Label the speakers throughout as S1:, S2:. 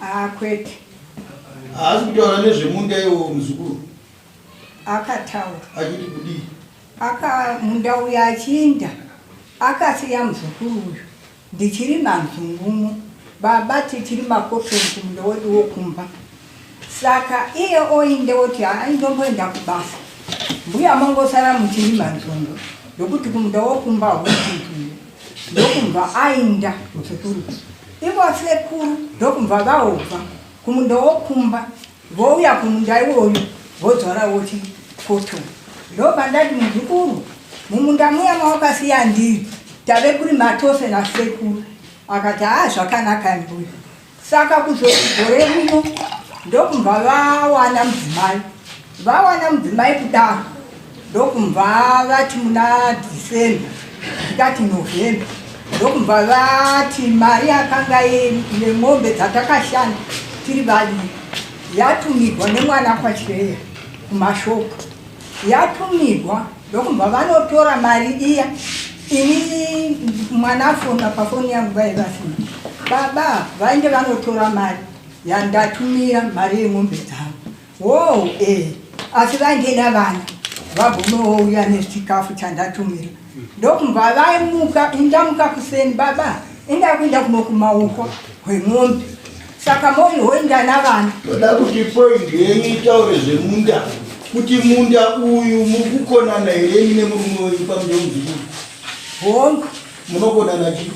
S1: Haa
S2: ah, kwete.
S1: Haasi kutaura nezvemunda iwo muzukuru.
S2: Akataura. Achiti
S1: kudii? Aka
S2: munda uya achiinda akasiya muzukuru uyu ndichiri manzungumo baba tichiri makofenzi munda wedu wokumba saka iye oinde oti aindomboenda kubasa mbuya mongosara muchiri manzungu ndokuti kumunda wokumba hwuii ndokumva ainda muchikuru ivo asekuru ndokumva vaobva kumunda wokumba vouya kumunda iwoyo vodzora woti poto ndobva ndati muzukuru mumunda muya mawakasiya ndiri tave kuri matose nasekuru akati haa zvakanaka mbuya Saka kuzoti gore rino ndokumva vawana mudzimai vawana mudzimai kudaro ndokumva vati muna December tikati November ndokumva vati mari yakanga nemombe dzatakashanda tiri vaviri yatumigwa nemwana kwachireya kumashopu yatumigwa Ndokumbwa vanotora mari iya ini mwana afona pafoni yangu vaive vasina baba vainge vanotora mari yandatumira mari yemombe dzavo wo e asi vainge navana vagomouya nechikafu chandatumira ndokumbwa vaimuka indamuka kuseni baba indakuinda kuno kumaoko hwemombe Saka mori hoinda navana. Toda kuti point
S1: yenyu itaure zvemunda. Kuti munda uyu muri kukonana here imi nemurume wenyu pamuda muzukuru? Hongu.
S2: Munokonana
S1: chii?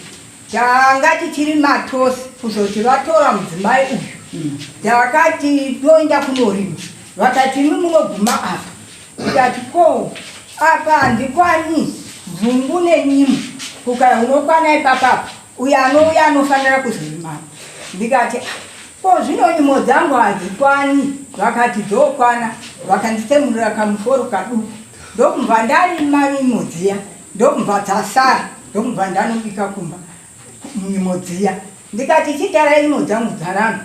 S1: Tanga
S2: tichiri matosi kuzoti vatora mudzimai uyu. Hmm. Takati toenda kunorima. Vakati imi munoguma apa. Tikati ko apa handikwani dzungu nenyimo. Kukaya unokwana ipapapa. uyo anouya anofanira kuzorima ndikati ah, ko zvino nyimo dzangu hadzikwani vakati dzokwana vakanditsemurira kamuforo kaduku ndokubva ndarima nyimo dziya ndokubva dzasara ndokubva ndanobika kumba nyimo dziya ndikati chitarai nyimo dzangu dzaramba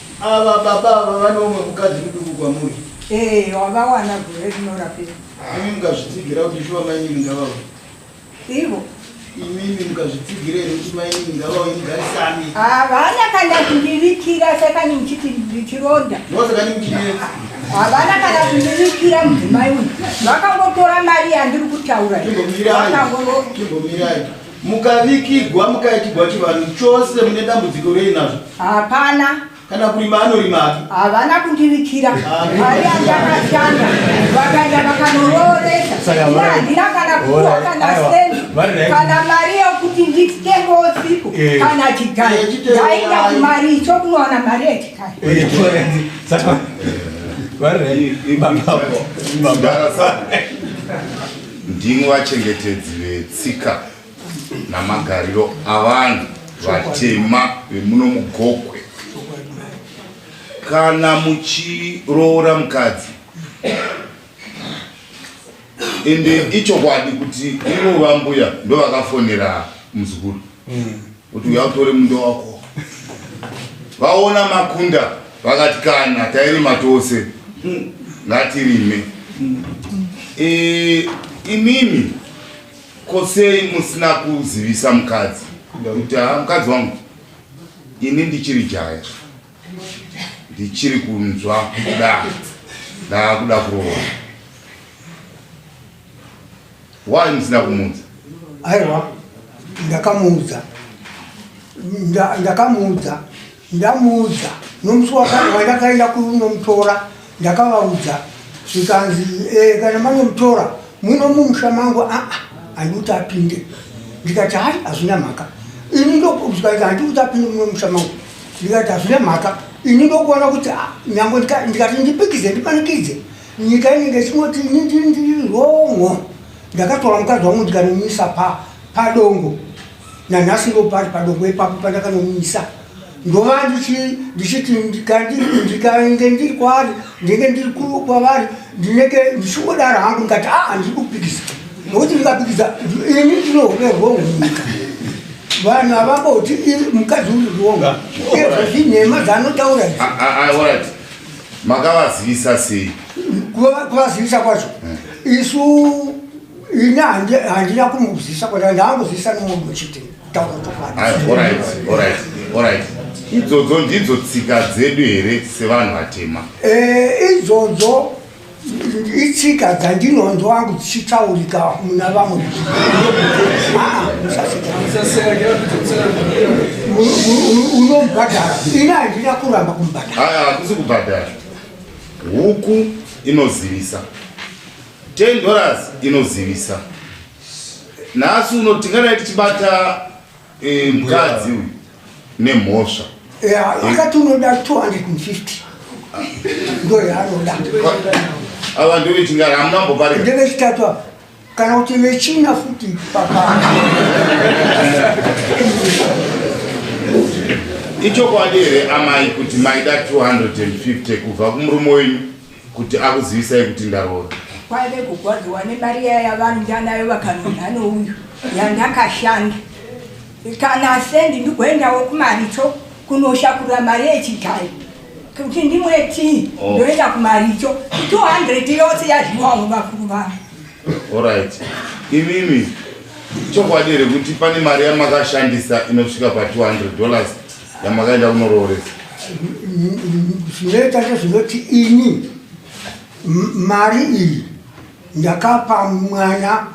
S1: Ava baba ava vane umwe mukadzi muduku kwamuri. Eh, wavawana
S2: gore rinorapira. Imi mukazvitsigira
S1: kuti shuwa mainini ngavawe. Ivo
S2: imimi
S1: mukazvitsigire here kuti mainini ngavauye mugarisane havana kana
S2: kundivikira sekani muchiti ndichironda mosakani muchinetsi
S1: havana
S2: kana kundivikira mudzimai uyu vakangotora mari yandiri kutaura kimbomirai
S1: Mukavigigwa mukaitigwa chivanhu chose mune dambudziko rei nazvo? Hapana.
S2: Kana kurima
S1: anorima hake. Havana kundivikira.
S2: Mari yandakashanda vakaenda vakanorooresa. Ini handina kana kuwa kana sendi kana mari yokuti nditenge usiku kana chigari. Ndainda kumari icho kunowana mari yechigari. Saka
S3: vari baba baba.
S4: Ndimi vachengetedzi vetsika namagariro avanhu vatema vemuno muGokwe. Kana muchiroora mukadzi ende ichokwadi kuti ivo vambuya ndovakafonera muzukuru. kuti uya utore munda wako vaona makunda vakati kana tairima tose ngatirime e, imimi kosei musina kuzivisa mukadzi kuti ha mukadzi wangu ini ndichiri jaya ndichiri kunzwa kuda ndaakuda kuroora Why musina kumuudza? Aiwa,
S5: ndakamuudza. Nda, ndakamuudza. Ndamuudza. Nomusi wakati wandakaenda kunomutora, ndakavaudza. Zvikanzi, eh, kana manomutora, muno mumusha mangu, ah, ah, handikuti apinde. Ndikati, hai, hazvina mhaka. Ini ndokuzikanzi, handikuti apinde muno mumusha mangu. Ndikati, hazvina mhaka. Ini ndokuona kuti, ah, nyangwe ndikati ndipikize, ndipanikidze. nyika inenge ichingoti ini ndiri ndiri wrong ndakatora mukadzi wangu ndikanomuisa pa padongo nanhasi ndo pari padongo ipapo pandakanomuisa ndova ndichi- ndichiti ndika- ndi- ndikainge ndiri kwavari ndinenge ndiri ku- kwavari ndinenge ndichingodaro hangu ndikati aa ndiri kupikisa nokuti ndikapikisa ndi- ini ndinove wrong munyika vanhu havamboti "Iri- mukadzi uri wrong ezvo zvinhema zanotaura izvi. Ah, ah, ah, alright. makavazivisa
S4: sei kuvazivisa
S5: kwacho eh. isu ini handina kumuzivisa kwaa ndaangozivisa nemunhu chete takutofanaiit
S4: idzodzo ndidzo tsika dzedu here sevanhu vatema eh, idzodzo
S5: itsika dzandinonzwa wangu dzichitaurika muna vamwe unobhadhara ini handina kuramba kumbhadhara hakusi kubhadhara
S4: huku inozivisa 10 dollars inozivisa nhasi uno tingadai tichibata Eh, mukadzi uyu nemhosva akati
S5: unoda 250 ndo yaanoda
S4: ava ndovechingara hamuna mboparira ndevechitatu apa
S5: kana kuti vechina futi pakana
S4: ichokwadi here amai kuti maida 250 kubva kumurume wenyu kuti akuzivisai kuti ndaroora kwaive kugwadziwa
S2: nemari iya yavanhu ndanayo vakanonha nouyu yandakashanda kana sendi ndigoendawo kumaricho kunoshakura mari yechigari kuti ndimwe tii oh. ndoenda kumaricho 200 yose yazviwawo vakuru vanhu orit
S4: imimi chokwadi here kuti pane mari yamakashandisa inosvika pa 200 dollars yamakaenda kunorooresa
S5: zvinoita zvezvinoti ini mari iyi ndakapa mwana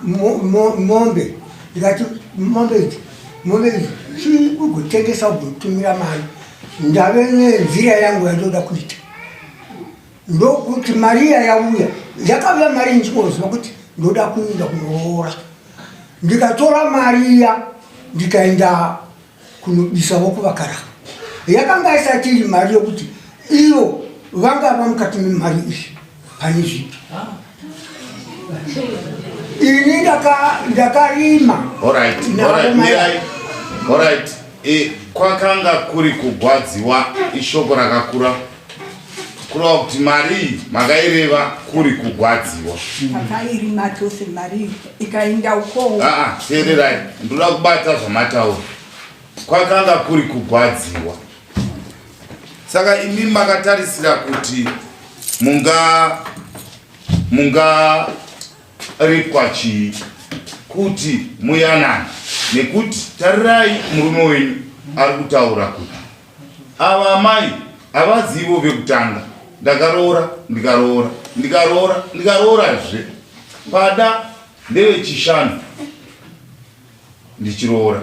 S5: mombe ndikati mombe idzi mombe idzi chii ugotengesa ugotumira mari ndave nenzira yangu yandoda kuita ndokuti mari iya yauya yakavuya mari ndichikoziva kuti ndoda kuenda kunoroora ndikatora mari iya ndikaenda kunobisawo kuvakaramba yakanga isati iri mari yokuti ivo vangava mukati memari izvi pane zvipi ini ndakarima
S4: kwakanga kuri kugwadziwa ishoko rakakura kureva kuti marii makaireva kuri kugwadziwa makairi
S2: matose marii ikainda ukoo aa ah, ah, teererai
S4: ndoda kubata zvamataura kwakanga kuri kugwadziwa saka imi makatarisira kuti munga munga ripwa chii kuti muyanana nekuti tarirai murume wenyu ari kutaura kuti Ava amai havazivo vekutanga ndakaroora ndikaroora ndikaroora ndikaroorazve pada ndevechishanu ndichiroora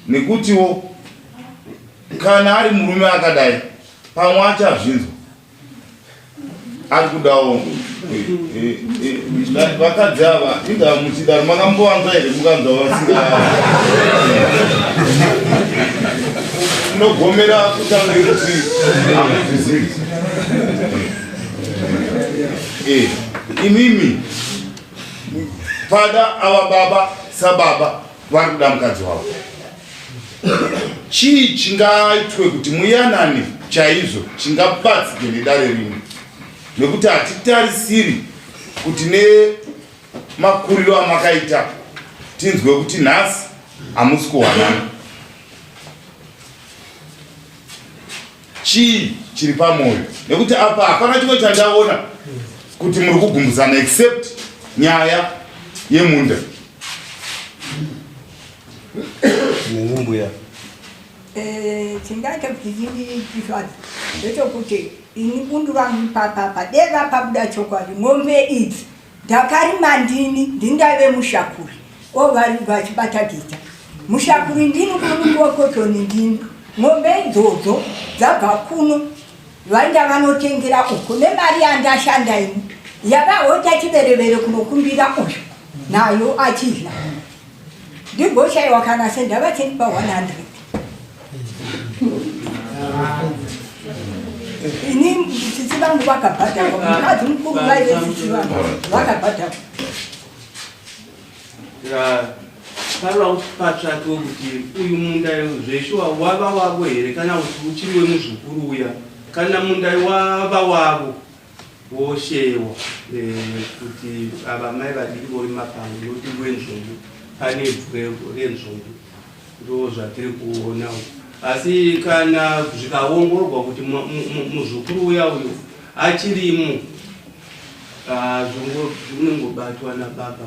S4: nekutiwo kana ari murume akadai pamwe achazvinzwa ari kudawo vakadzi ava inga muchida makambowanza here mukanza vasinga unogomera kutanga kuti amuzvizivi eh, imimi pada ava baba sababa vari kuda mukadzi wavo chii chingaitwe kuti muyanane chaizvo chingabatsike nedare rimwe nekuti hatitarisiri kuti nemakuriro amakaita tinzwe kuti nhasi hamusi kuwanana chii chiri pamwoyo nekuti apa hapana chimwe chandaona kuti muri kugumbudzana except nyaya yemunda
S3: mbuya eh,
S2: chindaita kuti zvindiisvadi ndechokuti ini bundu vangu papapa deva pabuda chokwadi mombe idzi Ndakarima ndini, ndini ndaive mushakuri. Ko vari vachibata gita. Mushakuri ndini kuno kotoni ndini. Mombe idzodzo dzabva kuno vainda vanotengera uko nemari yandashanda ini. Yavahota chiberevere kunokumbira uyu nayo achidya. Ndigoshaiwa kana sendava 10 pa 100. ini tsitsi vangu vakabhadhakwa mukadzi mukuru vaive tsitsi vangu
S6: vakabhadhakwa taura kuti patsvake wekuti uyu munda zveshuwa wava wavo here kana kuti uchiri wemuzukuru uya kana munda wava wavo Woshewo eh, kuti ava mai vadiki vorima pano notimbo wenzvombo pane bvwego renzvombo ndo zvatiri kuona asi kana zvikaongororwa kuti muzukuru uya uyo achirimo ah, zvinongobatwa nababa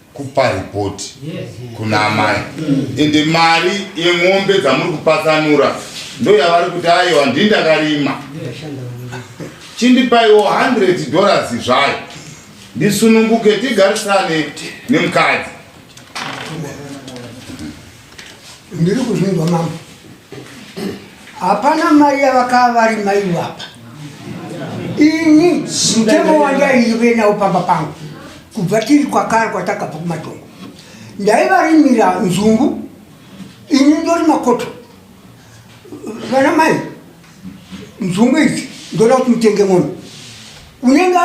S4: kupa report kuna amai ende mari yemombe dzamuri kupatsanura ndo yavari kuti ayo handii ndakarima chindipaiwo 100 dollars zvayo ndisununguke tigarisane nemukadzi
S5: ndiri kuzvinzwa mambo hapana mai yavakava vari mai vapa ini mutemo wandaive nawo pamba pangu kubva tiri kwakara kwatakabva kumatongo ndaivarimira nzungu ini ndori makoto vana mai nzungu idzi ndoda kuti mutenge mombe unenge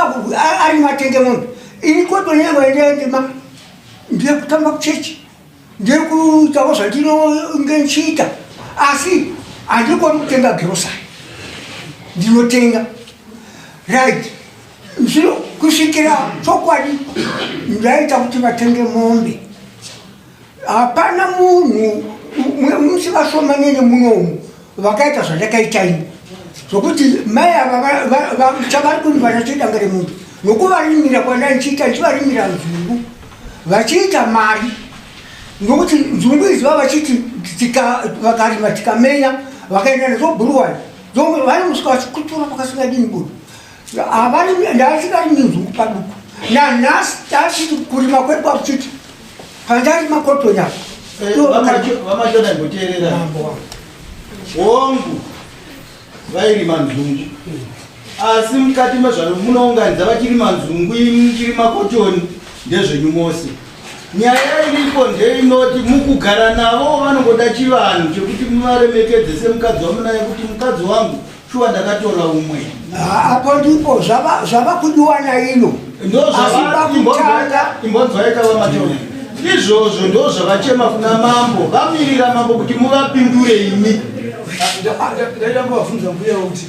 S5: ari matenge mombe ini koto nyengo yendeendima ndiye kutamba kuchechi ndiri kuitawo zvandinonge ndichiita asi handikoni kutenga girosari ndinotenga right zvino kusvikira chokwadi ndaita kuti vatenge mombe hapana munhu musivashomanene munomu vakaita zvandakaita ini zvokuti mai ava chavari kundivana chidanga remunhu nokuvarimira kwandai ndichiita ndichivarimira nzungu vachiita mari nokuti nzungu idzi va vachiti vakarima tikamenya vakaenda nezvobhuruwai vanomusvika vachikutura pakasingadini budu Ndaasingari minzungu paduku nanhasi taasiti kurima kwekwa kuchiti pandari makotoni apo
S1: vamachona ngoteerera hongu vairima nzungu asi mukati mezvano munounganidza vachirima nzungu imi muchirima kotoni ndezvenyu mose nyaya iripo ndeinoti mukugara navo vanongoda chivanhu chekuti muvaremekedze semukadzi wamunaye kuti mukadzi wangu Shuwa ndakatora umwe. Apo ndipo
S5: zvava zvava kudiwa naino. Ndozvavakutanga
S1: imbonzwaika vamachona. Izvozvo ndozvavachema kuna mambo vamirira mambo kuti muvapindure imi. Ndaida
S3: kuvavhunza mbuya kuti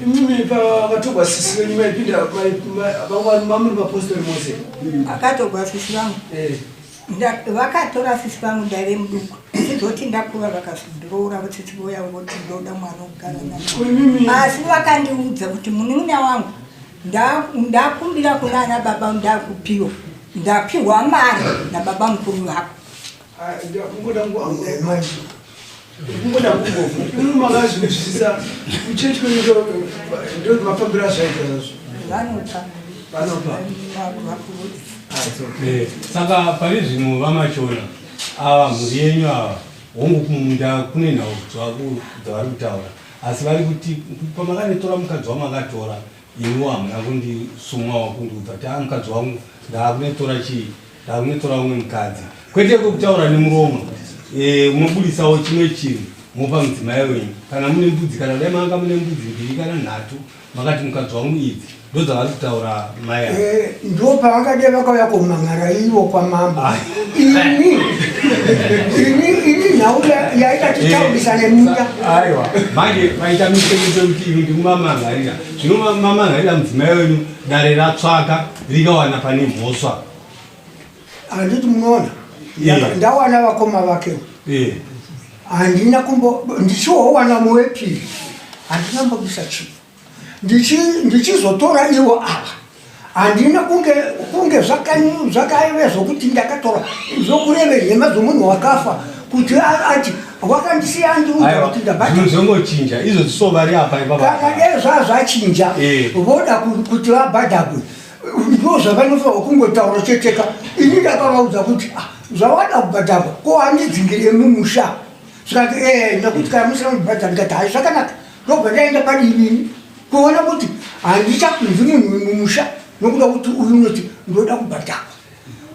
S3: mimi pakatorwa sisi venyu maipinda vamwari mamuri mapostori mose. Akatorwa
S2: sisi vangu. Eh. vakatora sisi vangu ndaive muduku sizoti ndakura vakazodiroora votsitsi voya voti ndoda mwana ogara na asi vakandiudza kuti munin'ina wangu ndakumbira kuna ana baba ndakupiwa ndapiwa mari nababa mukuru vako ah,
S3: kungoda kungofu imi makazvinzwisisa kuchechi kwenyika ndo mafambiro azvaita zvazvo vanopa
S7: vanopa saka pane zvimwe vamachona ava mhuri yenyu ava hongu kumunda kune nhau dzavari kutaura asi vari kuti pamakanetora mukadzi wamakatora Imi hamuna kundisumwawo kundiudza kuti haa mukadzi wangu ndaakunetsora chii ndaakunetsora umwe mukadzi kwete kwekutaura nemuromo eh, mobudisawo chimwe chinhu mopa mudzimai wenyu kana mune mbudzi kana dai manga mune mbudzi mbiri kana nhatu makati mukadzi wangu idzi ndodzavari kutaura mai ndo pavakade
S5: vakauya kumhan'ara ivo kwamambo ah. ini ini ini nhau yaita titaurisa nemuya aiwa manje
S7: vaita mitemuto kuti ini ndikumamhan'arira zvino mamhan'arira mudzimai wenyu dare ratsvaka rikawana pane mhosva
S5: handiti munoona eh. ndawana vakoma vake eh. handina kumbo ndichiwowana muwepiri handina mbobisa chii ndichizotora ndichi ivo ava handina kunge kunge zvakaive zvokuti ndakatora zvokureve nhema dzomunhu wakafa kuti ati wakandisiya ndiuza kuti ndabatizongochinja
S7: izvo dzisovari apa ipapakana dai
S5: zvazvachinja eh. voda kuti vabhadhagwe ndo zvavanofanirwa kungotaura cheteka ini ndakavaudza kuti ah, zvawada kubhadhagwa ko handidzingire mumusha zvikati e eh, nekuti kana musina kubhadha ndikati hai zvakanaka ndobva ndaenda padivi ini kuona kuti handichakunzi munhu wemumusha nokuda kuti uyu unoti ndoda kubhadhakwa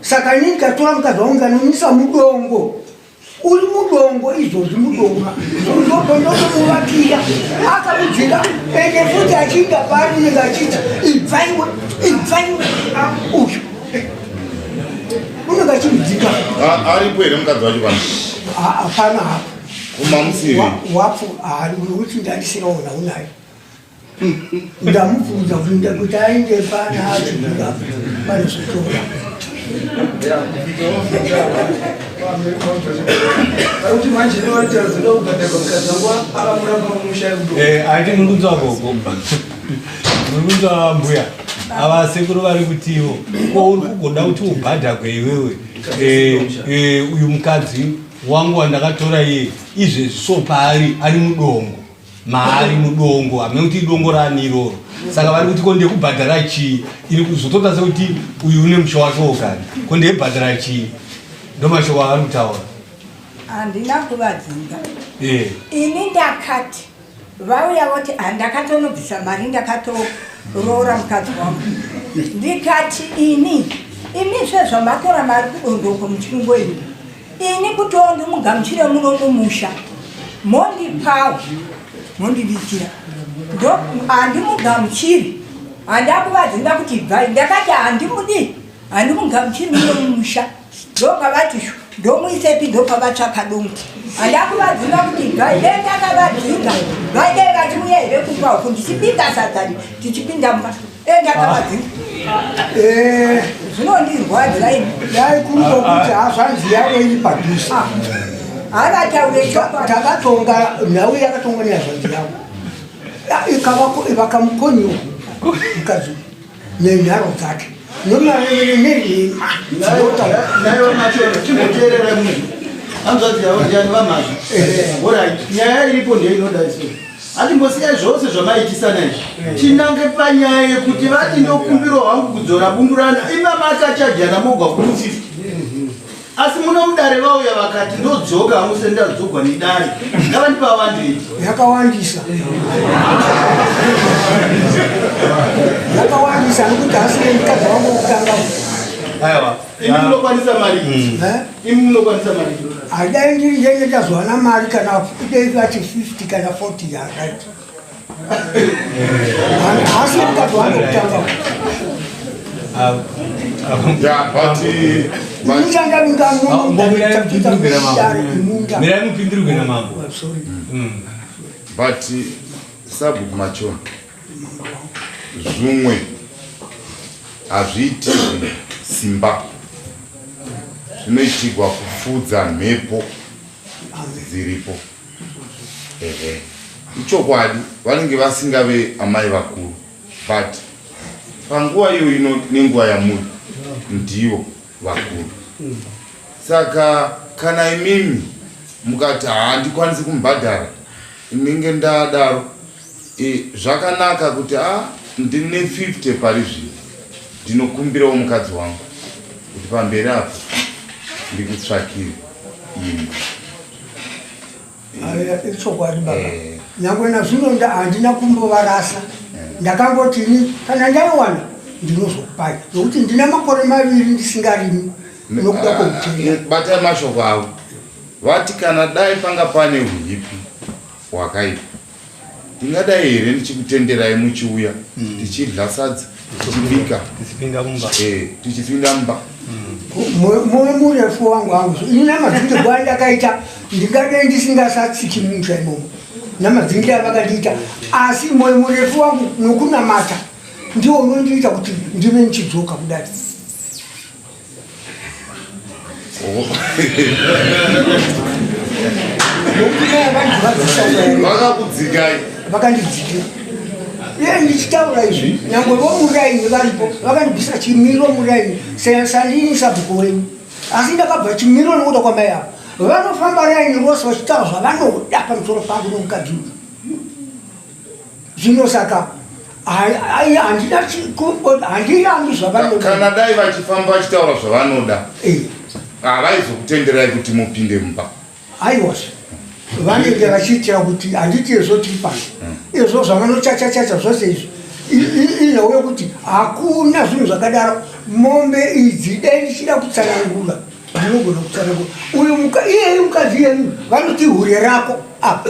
S5: saka ini ndikatora mukadzi wangu ndikanomisa mudongo uri mudongo izvozvi mudonga ndobva ndotomuvakira akamudzira ende futi achiinda paari unenge achiti ibvaiwe ibvaiwe uyu unenge achimudzika aripo here
S4: mukadzi wacho pano hapana
S5: hapo
S4: wapo
S5: uti ndandisiraona unayo ndamubvunza kuinda kuti ainge pana achibuda panozotora
S7: kuti manje novatazida kubhadharwa mukadzi wangu akamuramba mumusha aiti muri kunzwa gogo muri kunzwa mbuya ava sekuru vari kutiwo ko uri kugoda kuti ubhadhakwe iwewe uyu mukadzi Wangu wandakatora iye izvezvi so paari ari mudongo maari mudongo hamene kuti idongo raani iroro saka vari kuti ko ndekubhadhara chii ini kuzotoda sekuti uyu une musha wake wogari ko ndekubhadhara chii ndo mashoko avari kutaura handina
S2: kuvadzinga eh. ini ndakati vauya voti ah, ndakatonobvisa mari ndakatoroora mukadzi wangu ndikati ini imi sezvamatora mari kudondoko muchingo ini ini kutiwo ndimugamuchire muno mumusha mondipawo mondivikira ndo handimugamuchiri handakuvadzinda kuti ibvai ndakati handimudi handimugamuchiri muno mumusha ndopavati ndomuisepi ndopavatsvaka donki andakuvadzinga kuti vaidei ndakavadzinga vaidei vachiuya here kumba uku ndichibika sadzani tichipinda mba e ndakavadzinga eh. zvinondirwadzira ini dai kuri kokuti
S5: hazvanzi yavo iri padhuze ah.
S2: havataure takatonga
S5: nhau yakatongwa nehazvanzi yavo ah, ikavakamukonyuhu mukadzi nenharo dzake nomaeeneima
S1: hanzvadzi yavo ndiani vamazvi orit nyaya iripo ndiyo inoda isu hatimbosiyai zvose zvamaitisana izvi tinange panyaya yekuti vati ndokumbirwa hangu kudzora bundurana imama akachajana mogwa kumusifi asi muno mudare vauya vakati ndodzoka hamuse ndadzogwa nedare ngavandipawande
S5: yakawandisa yakawandisa nokuti hasi nemukadzi wangu wokutanga aiwa imi
S7: munokwanisa
S1: mari hmm. eh? imi munokwanisa mari adai ndiri ndenge
S5: ndazowana mari kana kudei vati 50 kana 40 yakaita
S4: but sabhuku macho zvimwe hazviiti simba zvinoitigwa kufudza mhepo dziripo ehe ichokwadi vanenge vasingave amai vakuru but panguva iyo ino nenguva yamuri ndiyo vakuru saka kana imimi mukati handikwanisi kumubhadhara inenge ndadaro e, zvakanaka kuti a ah, ndine 50 pari zvino ndinokumbirawo mukadzi wangu kuti pamberi apo ndikutsvakire imba
S5: ichokwadi baba eh. nyangwe nazvino handina kumbovarasa eh. ndakangoti ini kana ndaiwana ndinozokupai nokuti ndina makore maviri ndisingarimi nokuda ah, koutenga eh, batai mashoko
S4: avo vati kana dai panga pane uipi hwakaipa Ndingadai here ndichikutenderai muchiuya mm. tichidya sadza tichibika tichipinda mumba eh, tichipinda mumba mm.
S5: moyo murefu wangu wangu ini namadzindirwo andakaita ndingadai ndisingasatsiki mumusha imomo namadzingira vakandiita asi moyo murefu wangu nokunamata ndiwo unondiita kuti ndive ndichidzoka kudai
S4: vakakudzikai
S5: vakandidzikira iye ndichitaura izvi nyangwe vomuraini varipo vakandibvisa chimiro muraini sandini sabhuku wenyu asi ndakabva chimiro nokuda kwamai avo vanofamba raini rose vachitaura zvavanoda pamusoro pangu nomukadzi uyu zvino saka ai handina handirambi zvavanodakana dai vachifamba
S4: vachitaura zvavanoda eh. havaizokutenderai kuti mupinde mumba aiwas
S5: vanenge vachiitira kuti handiti ezvo tiri pano hmm. ezvo zvavanochachachacha zvose izvi inhauya kuti hakuna zvinhu zvakadaro mombe idzi dai ndichida kutsanangura ndinogona kutsanangura uyu iyeyi mukadzi yenu vanoti hure rako apa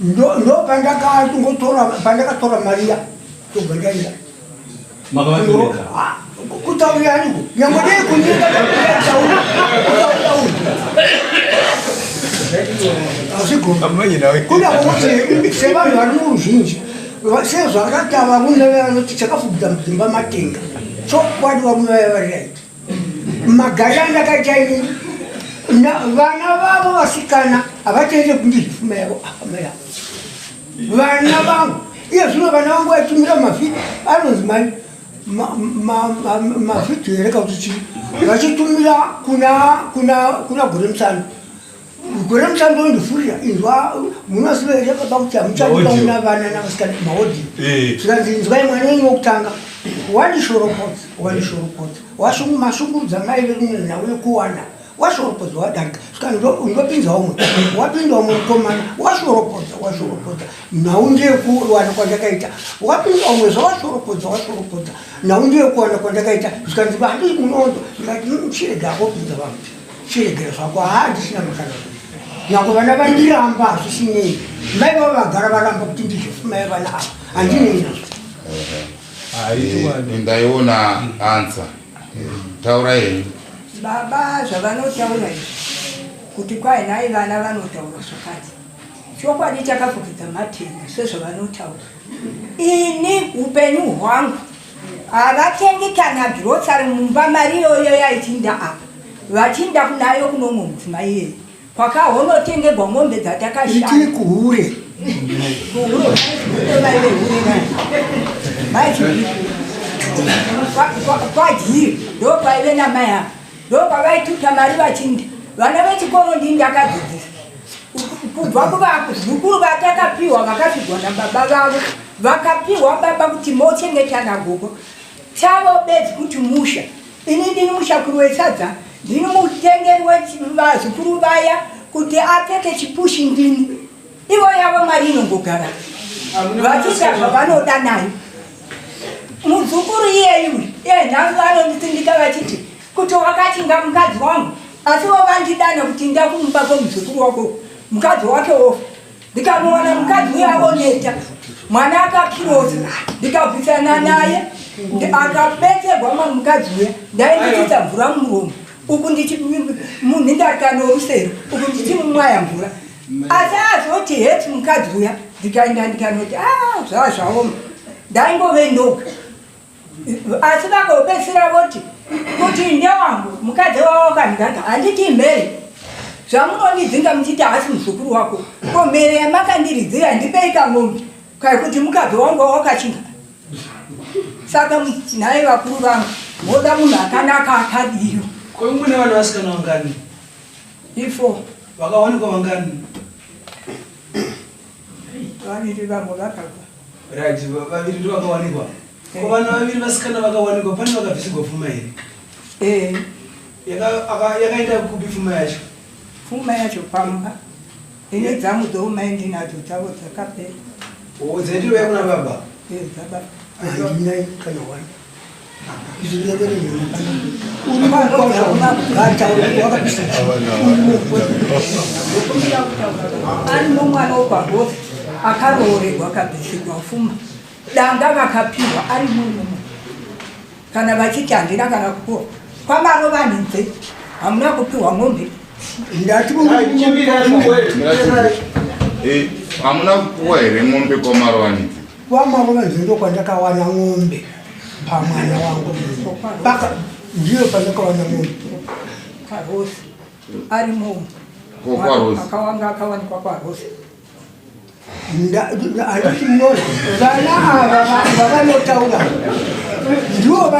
S7: ndo ndo pandakatongotora
S5: pandakatora mari ya tobva ndaenda kutaurira aniko nyangwe dei kunyika taura kuda kuti sevanhu vari muruzhinji sezvakatava vune vanoti chakafubudza mudzimba matenga chokwadi vamwe vaya vari raiti magaranga kachaini vana vavo vasikana havachaite kundizvifuma yavo akama yavo vana vangu iye zvino vana vangu vaitumira mavhidhi anonzi mani mavhidhi here kauti chii vachitumira kuna gore musana Gore mutambo ndofurira inzwa munoziva here baba kuti hamuchadiba una vana navasikana maodhi eh. zvikanzi inzwai mwana wenyu wokutanga wani shorokodzi wani shorokodzi washungu mashungurudza mai verumwe nhau yekuwana washorokodza wadarika zvikanzi ndopinza umwe wapinda umwe mukomana washorokodza washorokodza nhau ndeyekuwana kwandakaita wapinda umwe zvawashorokodza washorokodza nhau ndeyekuwana kwandakaita zvikanzi vandi munondo ndikati chirega akopinza vamti chiregera zvako haa ndisina makana nyangwe vana vandiramba hazvisinei mai vavo vagara varamba kuti ndizvofumai vana ava handinei nazvo eh,
S4: ndaiona ansa taura henyu baba
S2: zvavanotaura izvi kuti kwai nhai vana vanotaura zvakati chokwadi chakafukidza matenga sezvavanotaura ini upenyu hwangu Havatengi kana grocery mumba mari iyoyo yaichinda apa vachinda kunayo kuno mumwe mudzimai iyeye kwakahonotengerwa mombe dzatakashaya itii kuhure
S5: kuhure mai vehure nai mai
S2: chii Kwa- kwa- kwadyiri ndo kwaive namai ava ndopavaituta mari vachindi vana vechikoro ndii ndakadzidzisa kubva kuvazukuru vatakapiwa vakapigwa nababa vavo vakapiwa baba kuti mochengeta nagogo chavo bedzi kuti musha ini ndini mushakuru wesadza ndini mutengeri wevazukuru vaya kuti apfeke chipushi ndini ivo yavo mari inongogara vachita zvavanoda nayo muzukuru iyeyu iye nhasi vanonditsindika vachiti kuti wakachinga mukadzi wangu asi vo vandidana kuti nda kumuba kwomuzukuru wako mukadzi wake wofa ndikamuona mukadzi uyo avoneta mwana akakirosa ndikabvisana naye akabetserwa ma mukadzi uya ndainditisa mvura mumuromo uku ndichi munhu ndarikanorusero uku ndichimumwaya mvura asi azoti heti mukadzi uya ndikaenda ndikanoti a ah, zvaa zvaoma ndaingove ndoga asi vakopesira voti kuti ndewangu mukadzi wavo wakandiganga handiti mhere zvamunondidzinga muchiti haasi muzukuru wako ko mhere yamakandiridzira ndipei kangombe kaikuti mukadzi wangu wawakachinga saka nhai vakuru vangu moda munhu akanaka akadiyo ko mune vana
S3: vasikana wangani Ifo
S2: vakawanikwa
S3: vangani?
S2: Vaviri vamwe vakabva. Right,
S3: vaviri ndivo vakawanikwa. Eh. Ko vana vaviri vasikana vakawanikwa pane vakabvisirwa pfuma here? Eh. Yakaenda kupi pfuma yacho? Pfuma yacho
S2: pamba. Ine dzamu
S3: dzoumai
S2: ndinadzo dzavo
S3: dzakapera.
S2: Oh, dzaitiro
S3: yakuna
S2: baba? Eh, dzababa.
S5: Aindinai kana wani.
S2: ari nomwana wokwagozi akaroorerwa akabvisirwa fuma danga vakapihwa ari murume kana vachiti handina kana kupiwa kwamaro vanhinze hamuna kupiwa mombe hamuna kupiwa here mombe
S4: kwamaro vanhinze Kwamambo vanzi
S5: ndokwandakawana ng'ombe pamwana wangu paka ndiyo pandakawana ng'ombe kwarosi
S2: ari munhu akawanga akawanikwa kwarosi
S5: handiti mnona vana ava vavanotaura ndivo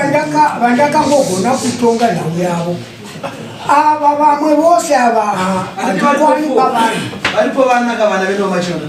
S5: vandakambogona kutonga nhau yavo ava vamwe vose ava handikwani pavanhu varipo vana
S3: kavana vedu vamachona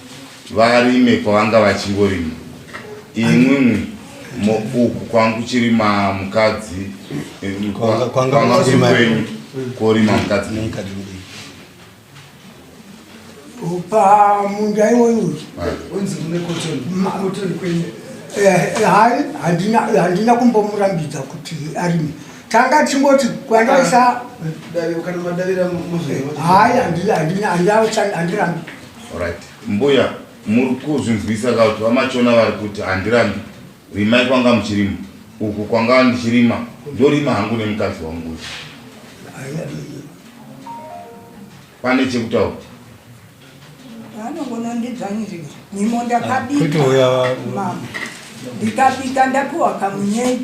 S4: varime kwavanga vachingorima imwimwi uku kwanga kuchirima mukadzi eh, kwanga kwenyu korima mukadzi
S5: pamunda iwoyu unzi kune
S3: kotoni kwenyu
S5: handina kumbomurambidza kuti arime tanga tingoti kwandaisa
S3: ah,
S5: hayi handirambi Alright.
S4: Mbuya muri kuzvinzwisa ka kuti vamachona vari kuti handirambi rimai kwanga muchirima uku kwanga ndichirima ndorima hangu nemukadzi wangu uyu pane chekutaura
S2: anongonondidzvanyirira nyimo ndakabika mama ndikabika ndapiwa kamunyei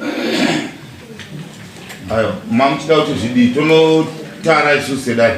S4: ayo mamuchida kuti zvidii tonotara isu sedai